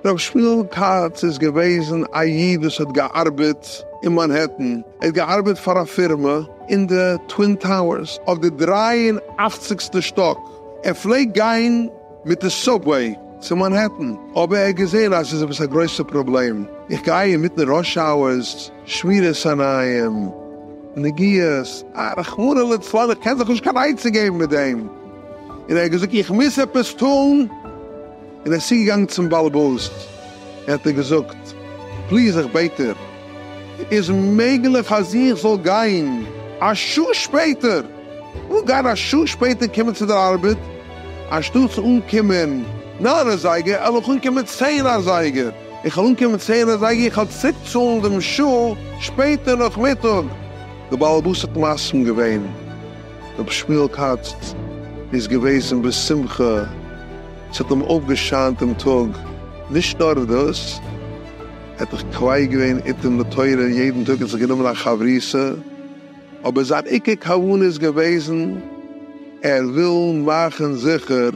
רב שמואל כץ איז געוועזן א איד וואס האט געארבעט אין מאנהעטן, ער האט געארבעט פאר א פירמע אין די טווין טאוערס אויף די דרײַ און אַכציק שטאק, ער פלעגט גיין מיט די סובוועי צו מאנהעטן, אבער ער האט געזען אז עס איז עפעס א גרויסע פראבלעם, איך גיי אינמיטן ראש אווערס, שמירת עיניים, נגיעות, אה, רחמנא לצלן, איך קען זיך נישט קיין עצה געבן מיט דעם. און ער האט געזאגט, איך מוז עפעס טון, און ער איז צוגעגאנגען צום באלעבאס, און האט אים געזאגט, פליז, איך בעט דיר, איז מעגליך אז איך זאל גיין א שעה שפעטער? איך וויל גיין א שעה שפעטער קומען צו דער ארבעט, אנשטאטס אנקומען נײַן אזייגער, על'ל איך אנקומען צען אזייגער. איך וועל אנקומען צען אזייגער, איך וועל צוריקצאלן דעם שול שפעטער נאכמיטאג. דער בעל הבית האט מסכים געווען, רבי שמואל כץ איז געוועזן בשמחה, עס האט אים אויפגעשיינט דעם טאג, נישט נאר דאס, ער האט זיך קווער געווען איתן לתורה, יעדן טאג האט זיך גענומען א חברותא, אבער זיין עיקר כוונה איז געוועזן ער וויל מאכן זיכער,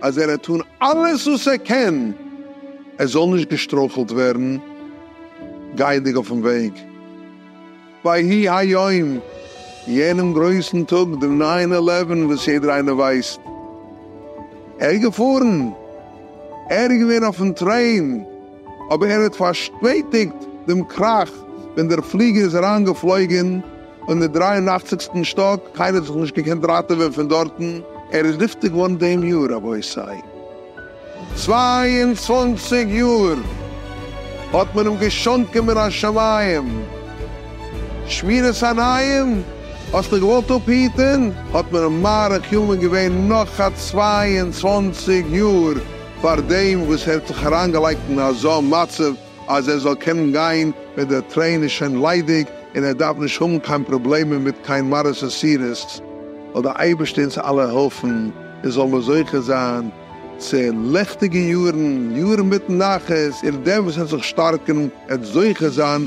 אז ער העט טון אלעס וואס ער קען ער זאל נישט געשטרויכלט ווערן גייענדיג אויפן וועג. ויהי היום, יענעם גרויסן טאג, דעם ניין עלעווען וואס יעדער איינער ווייסט, ער איז געפארן, ער איז געווען אויפן טרעין, אבער ער האט פארשפעטיגט דעם קראך ווען דער פליגער איז אריינגעפלויגען און די דרײַ און אַכציק-סטן שטאק, קיינער האט זיך נישט געקענט ראטעווען פון דארטן. ער איז נפטר געווארן דעם יאר, רבותי. צוויי און צוואַנציק יאר האט מען אים געשאנקען מן השמים. שמירת עיניים האסט דיך געוואלט אפהיטען, האט מען אים מאריך ימים געווען נאך א צוויי און צוואַנציק יאר. פאר דעם וואס ער האט זיך אריינגעלייגט אין אזא מצב אז ער זאל קענען גיין ווען דער טרעין איז שוין ליידיג און ער דארף נישט האבן קיין פראבלעמען מיט קיין מרות און סירות, זאל דער אייבערשטער אונז אלע העלפן און זאלן מיר זוכה זיין צו ליכטיגע יארן, יארן מיט נחת, און דער וואס ער האט זיך שטארקן עט זוכה זיין.